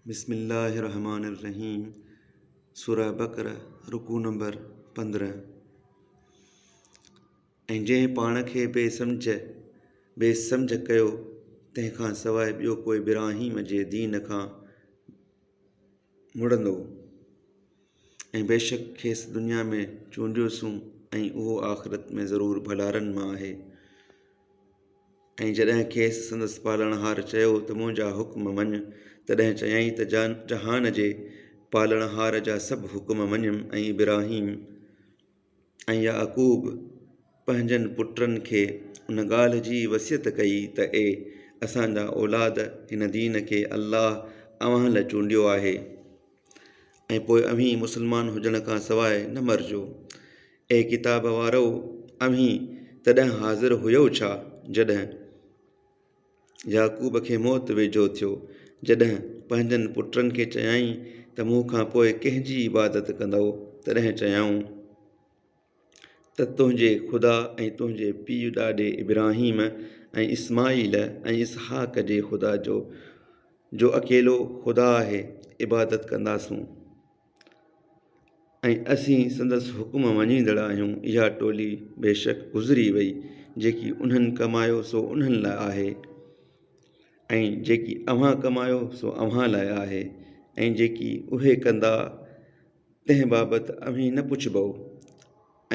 بسم الله الرحمٰن الرحيم سورة بقرة رڪوع نمبر پندرهن ۽ جنهن پاڻ کي بي سمجهه بي سمجهه ڪيو تنهن کان سواء ٻيو ڪوئي ابراهيم جي دين کان مڙندو ۽ بيشڪ کيس دنيا ۾ چونڊيوسون ۽ اهو آخرت ۾ ضرور ڀلارن مان آهي ۽ جڏهن کيس سندس پالڻهار چيو ته منهنجا حڪم مڃ، تڏهن چيائين ته جهان جي پالڻهار جا سڀ حڪم مڃيم ۽ ابراهيم ۽ يعقوب پنهنجن پٽن کي ان ڳالهه جي وصيت ڪئي ته اي اسان جا اولاد هن دين کي الله اوهان لاء چونڊيو آهي. ۽ پوء اوهين مسلمان هجڻ کان سواء نه مرجو. اي ڪتاب وارؤ! اوهين تڏهن حاضر هيؤ ڇا، جڏهن يعقوب کي موت ويجهو ٿيو، جڏهن پنهنجن پٽن کي چيائين ته مون کان پوء ڪنهن جي عبادت ڪندؤ؟ تڏهن چيائون. ته تنهنجي خدا ۽ تنهنجي پيء ڏاڏي ابراهيم ۽ اسماعيل ۽ اسحاق جي خدا جو، جو اڪيلو خدا آهي، عبادت ڪنداسون ۽ اسين سندس حڪم مڃيندڙ آهيون، اها ٽولي بيشڪ گذري وئي، جيڪي انهن ڪمايو سو انهن لاء آهي، ۽ جيڪي اوهان ڪمايو سو اوهان لاء آهي، ۽ جيڪي اهي ڪندا، تنهن بابت اوهين نه پڇبؤ،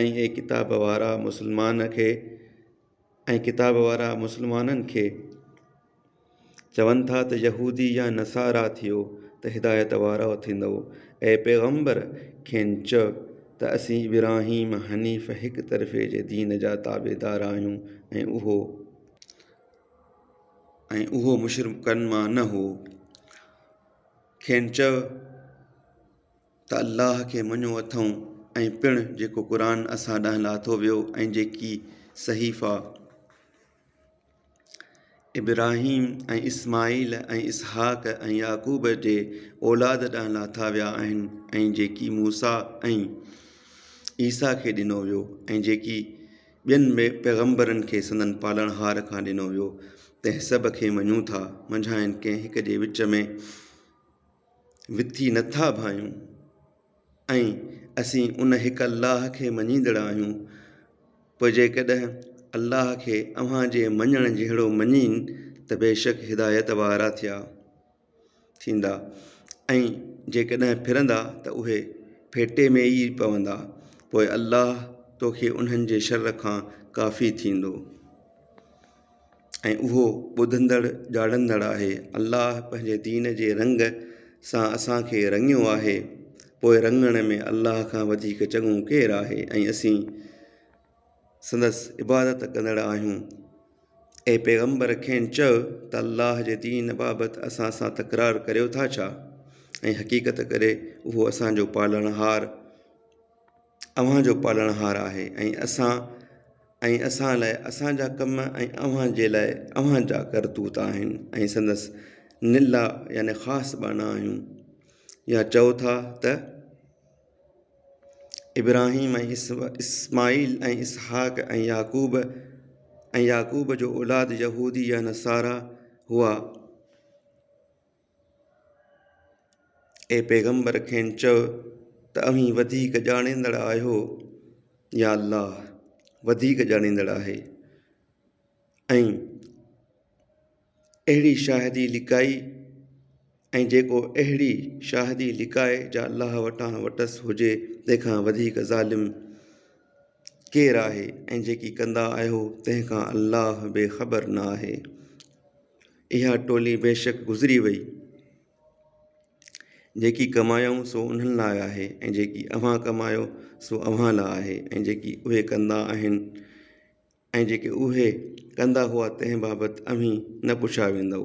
۽ اي ڪتاب وارا مسلمان کي ۽ ڪتاب وارا مسلمانن کي چون ٿا ته يهودي يا نصارا ٿيو ته هدايت وارا ٿيندؤ، اي پيغمبر کين چئه ته اسين ابراهيم حنيف هڪ طرفي جي دين جا تابعدار آهيون ۽ اهو. ۽ اهو مشرڪن مان نه هو. کين چئو ته الله کي مڃيو اٿئون ۽ پڻ جيڪو قرآن اسان ڏانهن لاٿو ويو ۽ جيڪي صحيفا ابراهيم ۽ اسماعيل ۽ اسحاق ۽ يعقوب جي اولاد ڏانهن لاٿا ويا آهن ۽ جيڪي موسيٰ ۽ عيسيٰ کي ڏنو ويو ۽ جيڪي ٻين پيغمبرن کي سندن پالڻهار کان ڏنو ويو، تنهن سڀ کي مڃون ٿا، منجهانئن ڪنهن هڪ جي وچ ۾ وٿي نه ٿا ڀانيون، ۽ اسين ان هڪ الله کي مڃيندڙ آهيون، پوء جيڪڏهن الله کي اوهان جي مڃڻ جهڙو مڃين ته بيشڪ هدايت وارا ٿيا. ٿيندا ۽ جيڪڏهن ڦرندا ته اهي ڦيٽي ۾ ئي پوندا پوء الله توکي انهن جي شر کان ڪافي ٿيندو ۽ اهو ٻڌندڙ ڄاڻندڙ آهي الله پنهنجي دين جي رنگ سان اسان کي رڱيو آهي پوء رڱڻ ۾ الله کان وڌيڪ چڱو ڪير آهي ۽ اسين سندس عبادت ڪندڙ آهيون. اي پيغمبر کين چئه ته الله جي دين بابت اسان سان تڪرار ڪريو ٿا ڇا؟ ۽ حقيقت ڪري اهو اسان جو پالڻهار اوهان جو پالڻهار آهي ۽ اسان ۽ اسان لاء اسان جا ڪم ۽ اوهان جي لاء اوهان جا ڪرتوت آهن ۽ سندس نلا يعني خاص ٻانها آهيون. يا چئو ٿا ته. ابراهيم ۽ اسماعيل ۽ اسحاق ۽ يعقوب ۽ يعقوب جو اولاد يهودي يا نصارا هئا. اي پيغمبر کين چؤ ته اوهين وڌيڪ ڄاڻيندڙ آهيو يا الله وڌيڪ ڄاڻيندڙ آهي ۽. اهڙي شاهدي لڪائي ۽ جيڪو اهڙي شاهدي لڪائي جا الله وٽان وٽس هجي تنهن کان وڌيڪ ظالم ڪير آهي ۽ جيڪي ڪندا آهيو تنهن کان الله بي خبر نه آهي. اها ٽولي بيشڪ گذري وئي. جيڪي ڪمايائون سو انهن لاء آهي ۽ جيڪي اوهان ڪمايو سو اوهان لاء آهي ۽ جيڪي اهي ڪندا آهن ۽ جيڪي اهي ڪندا هئا تنهن بابت اوهين نه پڇيا ويندؤ.